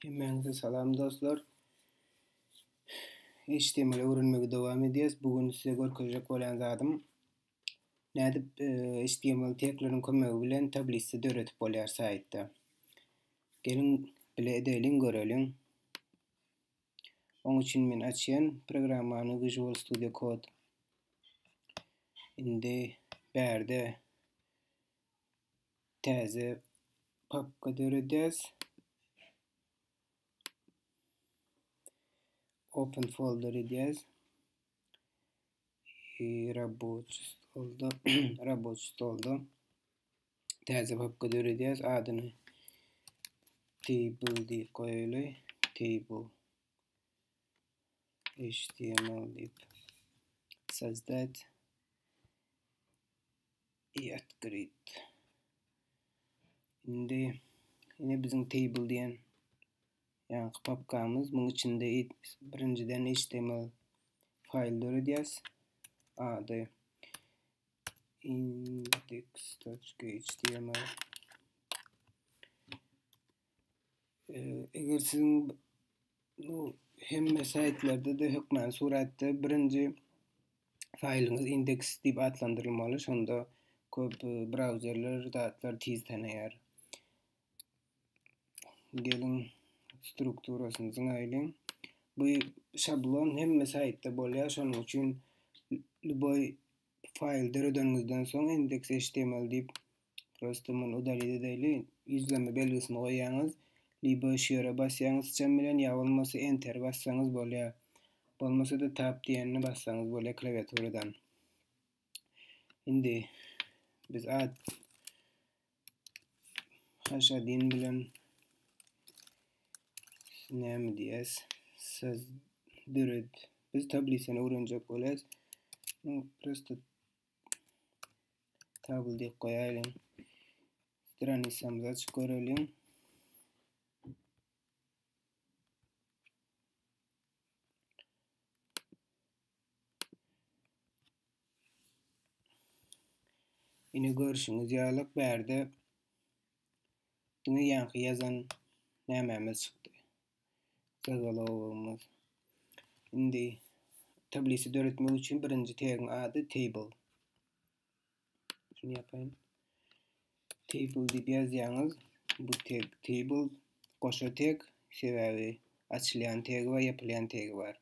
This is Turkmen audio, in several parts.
Hemmäňize salam dostlar. HTML öwrenmegi dowam edýäs. Bu gün size görkezjek bolýan zadym nädip HTML e, tegleriň kömegi bilen tablisa döredip bolýar saýtda. Geliň bile edeliň, göreliň. Oň üçin men açýan programmany Visual Studio Code. Indi bärde Täze papka döredýäs. Open folder edýäs. E, Raboç stolda, raboç stolda täze papka döredýäs. Adyny table diýip goýaýly. Table html diýip. Sozdat. I atgrid. Indi ine biziň table diýen ýaňky papkamyz. Muň içinde birinjiden HTML faýl döredýäs. Ady index.html eger siziň bu hemme saýtlarda-da hökmany suratda birinji faýlyňyz indeks diýip atlandyrylmaly, şonda köp e, brauzerler zatlar tiz tanaýar. Geliň strukturasyny zyňaýlyň. Bu şablon hemme saýtda bolýar, şonuň üçin lüboý faýl döredeniňizden soň indeks HTML diýip Prosto muny udalit edäýli. Ýüzlenme belgisini goýýaňyz, libo şu ýere basýaňyz syçan bilen ýa bolmasa enteri bassaňyz bolýar. Bolmasa-da tab diýenini bassaňyz bolýar klawiaturadan. Indi biz ad haşadin bilen näme diýýäs? Siz döret. Biz tablisany öwrenjek bolýas. Prosto Kabul diýip goýaýlyň. Stranisamyzy açyp göreliň. Ine görüşüňiz ýaly bärde diňe ýaňky ýazan nämemiz çykdy. Gyzylogumyz. Indi tablisa döretmek üçin birinji tegiň ady table. Şunu ýapaýyn. Table diýip ýazýaňyz. Bu tag table goşa tag sebäbi açylýan tagi we ýapylýan tagi bar.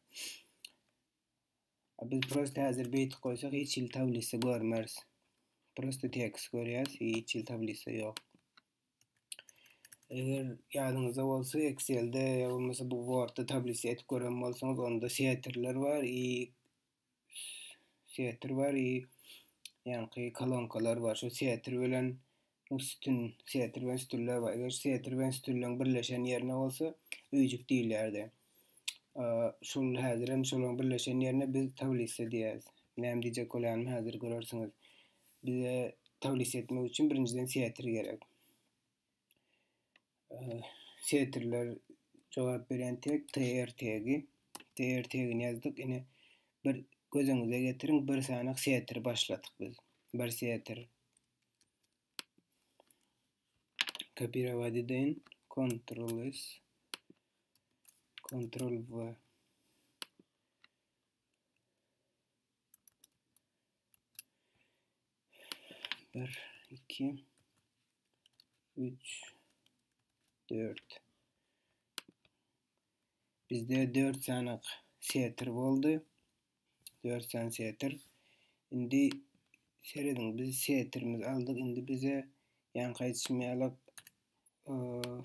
Biz prosta häzir beýtip goýsak hiç hili tablisa görmeris. Prosta tekst görýäs, hiç hili tablisa ýok. Eger ýadyňyzda bolsa, Excel-de ýa bolmasa bu Word-da tablisa edip gören bolsaňyz, onda setirler bar i setr bar i ýaňky kolonkalar bar. Şu setr bilen üstün, setr bilen üstünler bar. Eger setr bilen üstünlügiň birleşen ýerine bolsa, öýjük diýilýärdi. Şol häzir hem şolaryň birleşen ýerine biz tablisa diýýäris. Näme diýjek bolýanymy häzir görersiňiz. Bize taglis etmek üçin birinjiden setir gerek. Setirler jogap beren tek tr tegi. Tr tegini ýazdyk. Ine bir göz öňüňize getiriň, bir sanak setir başladyk biz. Bir setir. Kopirowat edeýin. Ctrl S. Ctrl V. Bir, iki, üç, dört. Bizde dört sany setir boldy. Dört sany setir. Şimdi seyredin biz setirimizi aldık. Şimdi bize yan kayıtışmayalak ıı,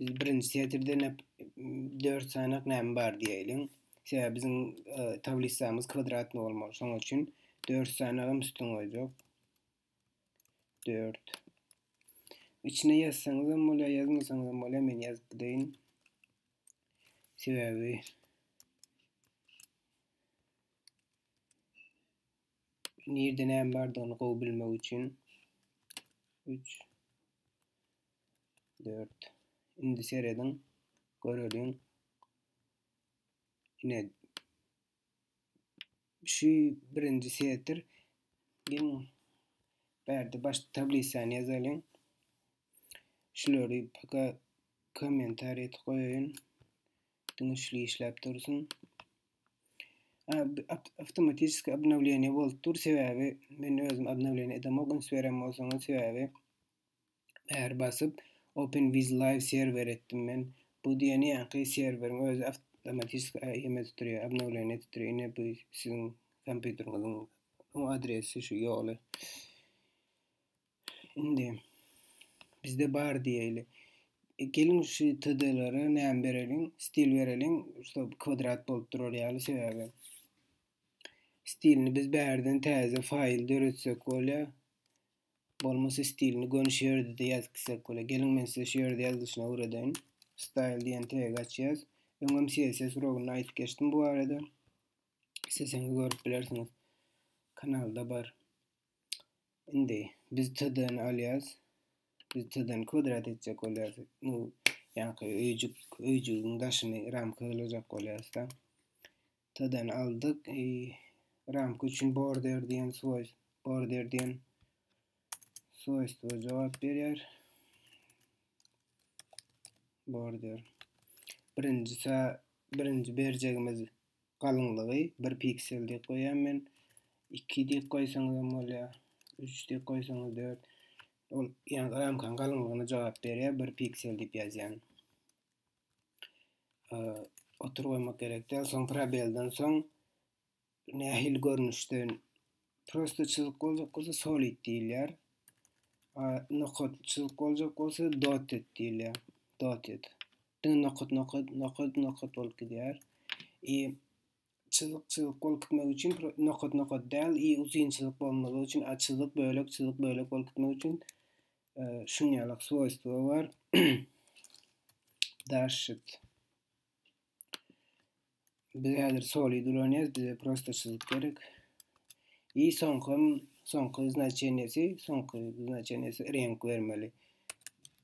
Biz birinci setirde näp dört sanak näme bar diýeýin. Sebäbi biziň e, tablisamyz kwadratny bolmaly. Şonuň üçin dört sanagam üstün goýjak. Dört. İçine ýazsaňyz hem bolýar, ýazmasaňyz hem bolýar. Men ýazyp gideýin. Sebäbi Nirde näme bardygyny gowy bilmek üçin 3 4 indi serediň göreliň ine şu birinji setr gel bärde baş tablisany ýazalyň şulary paka kommentariýa goýaýyn Dynçly işläp dursun. Avtomatiski obnowleniýe bolup dur, sebäbi men özüm obnowleniýe edemok, üns berem bolsaňyz, sebäbi bäri basyp Open with Live serwer etdim men. Bu diýeni ýaňky serweriň özi avtomatiski ýeme tuturýar, obnowleniýe tuturýar. Ine bu siziň kompýuteriňiziň adresi şu ýoly. Indi bizde bar diýeli. E, geliň şu TD-lere näme bereliň? Stil bereliň. Şu kwadrat bolup durar ýaly sebäbi. Stilini biz bärden täze faýl döretsek bolýar. Bolmasa stilini gönüş ýerde ýazyp gitsek bolýar. Geliň men size şu ýerde ýazylyşyny öwredeýin. Style diýen tegi açýas. Öňem CSS urugynda aýdyp geçdim bu barada. Isteseňiz görüp bilersiňiz. Kanalda bar. Indi biz töden alýas. Biz töden kwadrat etjek bolýas. Bu ýaňky öýjük, öýjügiň daşyny ramka gylajak bolýasda. Töden aldyk. E, ramka üçin border diýen soýuz, border diýen soýuz we jogap berýär. Border. Birinji sa birinji berjegimiz Galyňlygy bir piksel diýip goýýan men. 2 diýip goýsaňyz hem bolýar. 3 diýip goýsaňyz 4. Ol ýa ramkanyň galyňlygyna jogap berýär. Bir piksel diýip ýazýan. Otur goýmak gerek däl. Soň probelden soň nähili görnüşde prosta çyzyk boljak bolsa solid diýilýär. Nokat çyzyk boljak bolsa dotted diýilýär. Dotted. Diňe nokat nokat nokat nokat bolup gidýär. I çyzyk çyzyk bolup gitmek üçin nokat nokat däl, i uzyn çyzyk bolmagy üçin a çyzyk bölek çyzyk bölek bolup gitmek üçin e, şuň ýaly swoýstwo bar. Daşit. Biz häzir soli duranýas, bize prosta çyzyk gerek. I soňky soňky znaçenýesi, soňky znaçenýesi renk bermeli.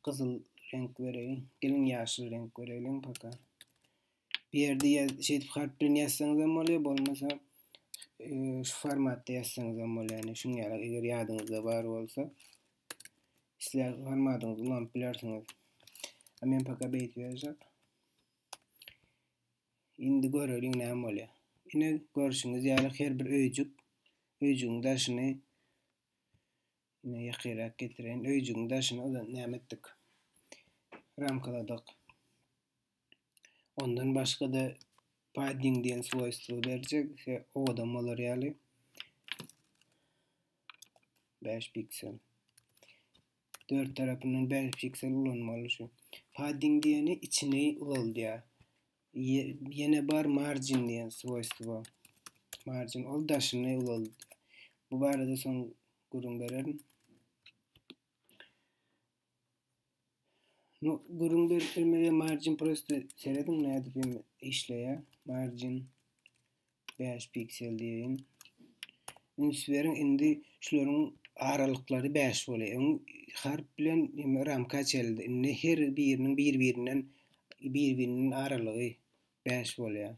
Gyzyl renk bereýin. Gelin ýaşyl renk bereýin paka. Bir ýerde ýaz, şeýdip harp bilen ýazsaňyz hem bolýar, bolmasa e, şu formatda ýazsaňyz hem bolýar. Yani şuň ýaly eger ýadyňyzda bar bolsa, isleýän formatyňyzy ulanyp bilersiňiz. Men paka beýdip ýazjak. Indi göreliň näme bolýar. Ine görşüňiz ýaly her bir öýjük, öýjügiň daşyny ine ýakyrak getireýin. Öýjügiň daşyny ozal näme etdik? Ramkaladyk. Ondan başga-da padding diýen swojstwo berjek, owadan bolar ýaly. 5 piksel. Dört tarapyndan bäş piksel ulanmaly şu. Padding diýeni içini ulaldýar. Ýene bar margin diýen swoýstwo. Margin ol daşyny ulaldýar. Bu barada soň gürrüň bererin. No, gürrüň bermege margin prosta serediň nädip işleýär. Margin Bäş piksel diýeýin. Üns beriň, indi şularyň aralyklary bäş bolýar. Öň harp bilen ýa ramka çeldi. Indi her biriniň bir-birinden bir-biriniň aralygy bäş bolýar.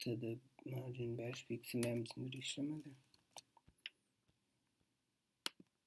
Tada margin bäş piksel näme üçindir işlemedi.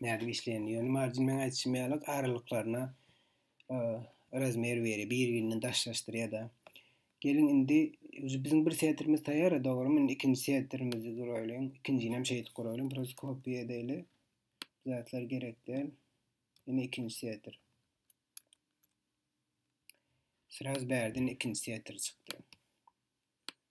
nädip işleýänini. Ýöne marjin meň aýdyşym ýaly aralyklaryna e, razmer berýär, bir-birinden daşlaşdyrýar-da. Geliň indi biziň bir setirimiz taýýar, dogrumy? Indi ikinji setirimizi guraýlyň. Ikinjini hem şeýdip guraýlyň. Biraz kopiýa edäýli. Zatlar gerek däl. Indi ikinji setir. Sraz bärden ikinci setir çykdy.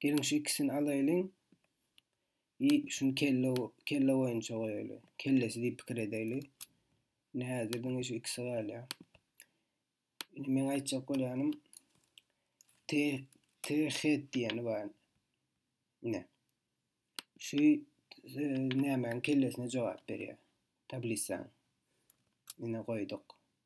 Gelin şu ikisini alaýlyň. I şun kelle kelle boýunça goýaýly. Kellesi diýip pikir edäýli. Ne häzir diňe şu ikisi galýa. Indi men aýtjak bolýanym T T head diýeni bar. Ne. Şu e, nämäň kellesine jogap berýär. Tablisa. Ine goýduk.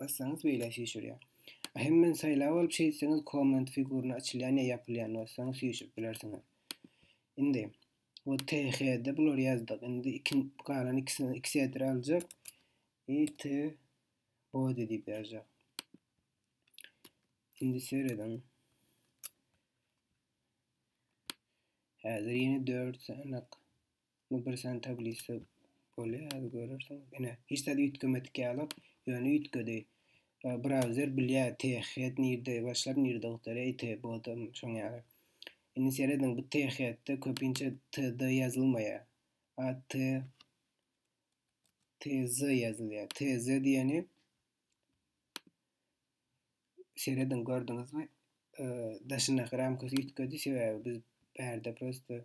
Bassaňyz beýle süýşürýär. Ahem men saýlap alyp şeýtseňiz komment figurny açylýan ýa ýapylýan bassaňyz süýşürip bilersiňiz. Indi we THD bular ýazdyk. Indi ikin galan ikisini iki sedir aljak. IT body diýip ýazjak. Indi serediň. Häzir ýene 4 sanak Bu bir sany tablisa bolýar, häzir görersiň. Ine, hiç zat üýtgemedik ýalak, ýöne üýtgedi. Browser bilýär, THEAD nirde başlap, nirde gutarýar, ETH bodam şoň ýaly. Indi serediň, bu THEAD-de köpinçe TD ýazylmaýar. AT TZ ýazylýar. TZ diýeni serediň gördüňizmi? Daşyndaky ramkasy üýtgedi, sebäbi biz bärde prosta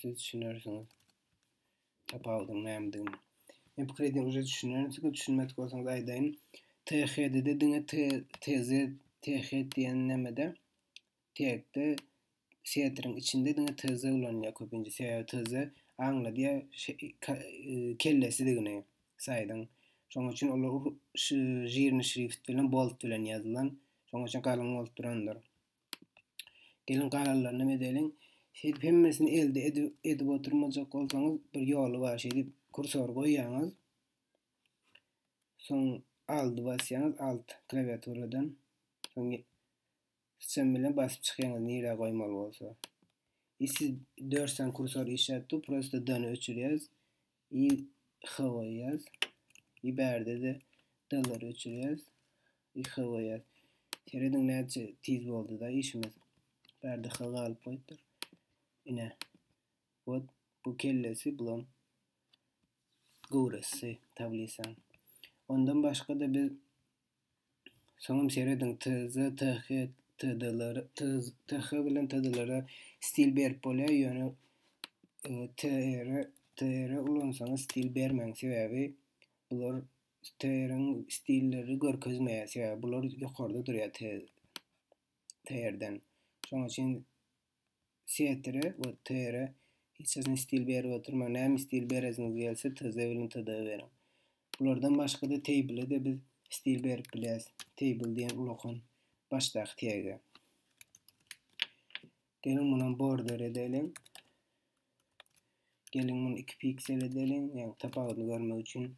Siz düşünersiňiz. Tapawudyň nämedigini. Men pikir edýän, uje düşünerin. Siz düşünmedik bolsaňyz aýdaýyn. THD-de diňe TZ, TH diýen nämede tekde setriň içinde diňe TZ ulanýar köpünçe. Sebäbi TZ aňladýar şey, e, kellesidigini saýdyň. Şoň üçin olar şu žirni şrift bilen bolt bilen ýazylan. Şoň üçin galyň bolup durandyr. Geliň galanlaryny hem edeliň. Şeýdip hemmesini elde edip oturmajak bolsaňyz bir ýoly bar. Şeýdip kursor goýýaňyz. Soň aldy basýaňyz alt klawiaturadan. Soň sen bilen basyp çykýaňyz nirä goýmaly bolsa. Siz 4 sany kursor işläpdi, prosta dany öçürýäs. I goýýas. I bärde-de dallary öçürýäs. I goýýas. Serediň näçe tiz boldy-da işimiz. Bärde H galyp goýupdyr. Ine. Wot bu kellesi, bulam göwresisi tablisaň. Ondan başga-da biz Soňam serediň TZ, TH, TD-lere, TZ, TH bilen TD-lere stil berip bolýar, ýöne e, TR, TR ulansaňyz stil bermäň, sebäbi bular TR-iň stilleri görkezmeýär, sebäbi bular ýokarda durýar TR-den. Şonuň üçin Setre we Tere hiç haçan stil berip oturmaň. Näme stil beresiňiz gelse, TZ bilen TD beriň. Bulardan başga-da Table-de biz stil berip bilýäris. Table diýen ulakan başdaky tege. Geliň munam border edeliň. Geliň muny 2 piksel edeliň. Ýa tapawudyny görmek üçin.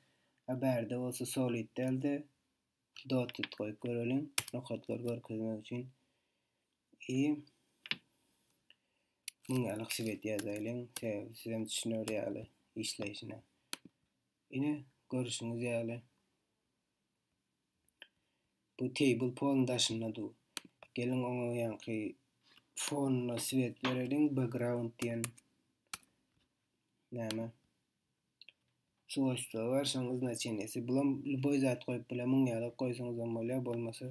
A bärde bolsa solid däldi. Dotet goýup göreliň. Nokatlary görkezmek üçin i muňa alaksyp edýärdiň. Sebäbi siz hem düşüner ýaly işleýşine. Ine görüşüňiz ýaly bu table pol daşynda dur. Geliň oňa ýaňky fonuna swiet bereliň, background diýen näme? Swojstwa bar, şoň znaçenýesi. Bulam lüboý zat goýup bile, müň ýaly goýsaňyzam bolýar, bolmasa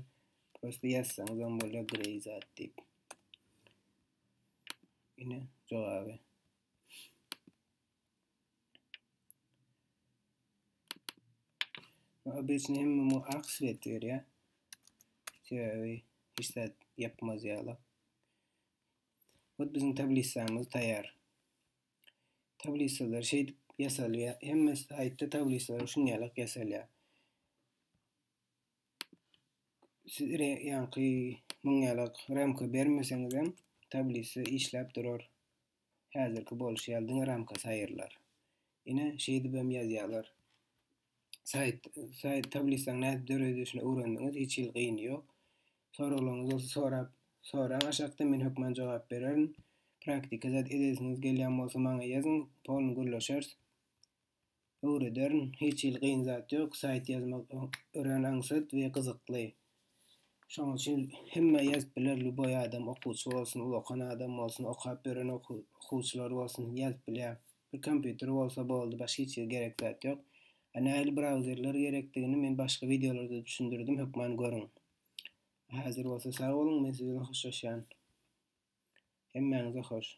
prosta ýazsaňyzam bolýar grey zat diýip. Ine jogaby. Obesni hem mu ak svet berýär. Sebäbi hiç zat ýapmaz ýaly. Ot biziň tablisamyz taýýar. Tablisalar şeýdip ýasalýar. Hemme saýtda tablisalar şun ýalak ýasalýar. Siz re, ýaňky muň ýalak ramka bermeseňiz hem tablisa işläp durar. Häzirki bolşy ýaly diňe ramkasy aýrylar. Ine şeýdip hem ýazýarlar. Saýt, saýt tablisaň nädip döredilişini öwrendiňiz, hiç hili gyny ýok. Soraglaryňyz bolsa sorap, soraň aşakda men hökman jogap bererin. Praktika zat edesiňiz gelýän bolsa maňa ýazyň, polny gürleşeris. Öwrederin, hiç hili gyn zat ýok, saýt ýazmak örän aňsat we gyzykly. Şoň üçin hemme ýazyp biler, lýuboý adam, okuwçy bolsun, uly okan adam bolsun, okap ýören okuwçylar bolsun ýazyp bilýär. Bir kompýuter bolsa boldy başga hiç zat gerek zat ýok. A nähili brauzerler gerekdigini men başga wideolarda düşündirdim hökman görüň. Häzir bolsa sag boluň men siz bilen hoşlaşýan. Hemmäňize hoş.